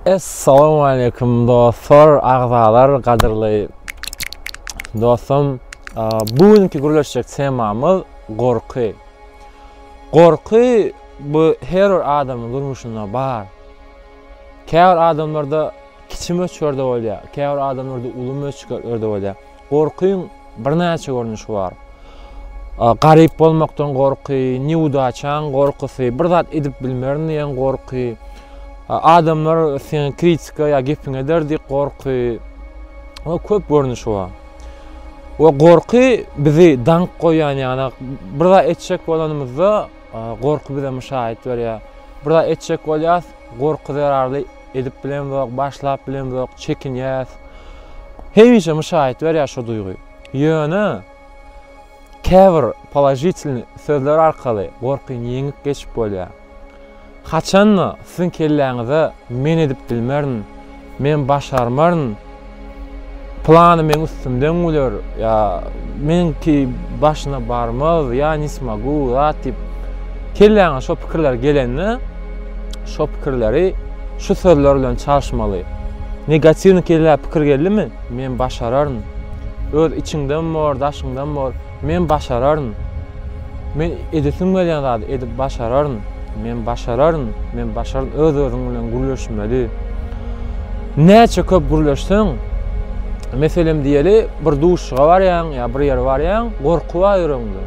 Essalamualeýkum dostlar agzalar gadyrly dostum bu günki gürleşjek temamyz gorky gorky bu her bir adamyň durmuşynda bar käbir adamlarda kiçi möçberde bolýar käbir adamlarda uly möçberde bolýar Gorkyň birnäçe görnüşi bar. Garyp bolmakdan gorky, newdaçaň gorkusy, bir zat edip bilmerin diýen gorky, adamlar seň kritika ýa gepiňi eder diýip gorky we köp görnüşi bar. We gorky bizi daňyp goýýan ýagny bir zat etjek bolanymyzda gorky bize muşaýat berýär. Bir zat etjek bolýas. Gorky zerarly edip bilemzok, başlap bilemzok, çekinýäs. Hemişe müşaýat berýär şu duýgy. Ýöne käbir položitilny sözler arkaly gorkyny ýeňip geçip bolýar. Haçan-da siziň kelläňize men edip bilmerin, Men başarmaryn, plany meň üstümden güler ýa meniňki başyna barmaz, ýa ne smogu, zat diýip, kelläňe şo pikirler gelende, şo pikirleri şu sözler bilen çalyşmaly. Negatiwnykelläpikir geldimi, men başararyn, öz içiňden bor, daşyňdan bor. Men başararyn! Men edesim gelýän zady edip başararyn! Men başararyn! Men başararyn! Öz-özüň bilen gürleşmeli. Näçe köp gürleşseň, meselem diýeli, bir duşuşyga barýaň ýa bir ýere barýaň, gorky bar ýüregiňde.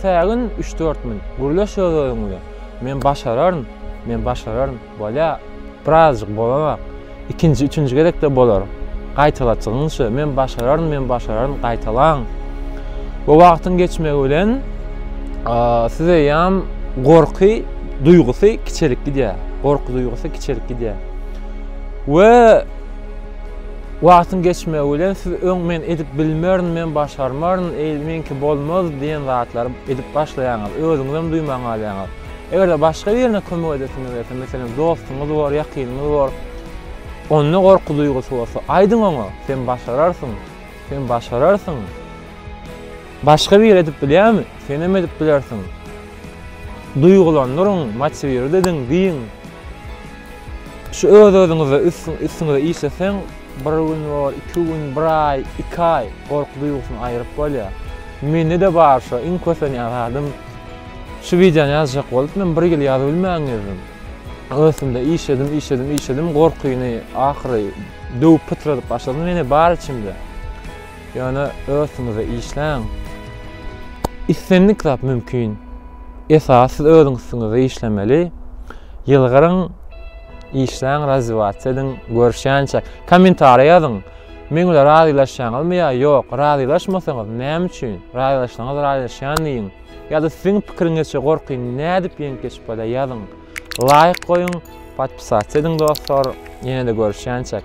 Sägin üç-dört minut, gürleş öz-özüň bilen. Men başararyn! Men başararyn! Bolýa, birazjyk bolanok. Ikinji, üçünji gezekde bolar. Gaýtalaçygyň şu, men başararyn, men başararyn, gaýtalaň. Bu wagtyň geçmegi bilen siz eýýäm gorky duýgusy kiçelip gidýär. Gorky duýgusy kiçelip gidýär. We wagtyň geçmegi bilen siz öň men edip bilmerin, men başarmaryn, eý, meňki bolmaz diýen zatlary edip başlaýaňyz. Özüňizem duýman galýaňyz. Eger-de başga birine kömek edesiňiz gelse, meselem, dostuňyz bor, ýakynyňyz bor, onda gorky duýgusy bolsa, aýdyň oňa, Sen başararsyň! Sen başararsyň! Başga biri edip bilýärmi? Senem edip bilersiň! Duýgulandyryň, motiwirt ediň, diýiň. Şu öz-özüňize, üstüňize işleseň, bir gün bol, iki gün, bir aý, iki aý gorky duýgusyny aýryp bolýar. Mende-de bar şo, iň kösenýän zadym. Şu wideony ýazjak bolup men bir ýyl ýazybilmän gezdim. Ösümde işledim, işledim, işledim, gorkyny ahyry döwüp pytradyp başladym, ýene bar içimde. Ýöne ösüňize işläň. Islendik zat mümkin. Esasy siz özüň üstüňizde işlemeli. Ýylgyryň, işläň, razwiýasiýa ediň, görüşýänçä. Kommentariýa ýazyň. Meň bilen razylaşýaňyzmy ýa ýok? Razylaşmasaňyz, näme üçin? Razylaşsaňyz razylaşýan diýiň. Ýa-da siziň pikiriňizçe gorkyny nädip ýeňip geçip bolýar ýazyň. Laýk goýuň, podpisasiýa ediň dostlar. Ýene-de görüşýänçäk.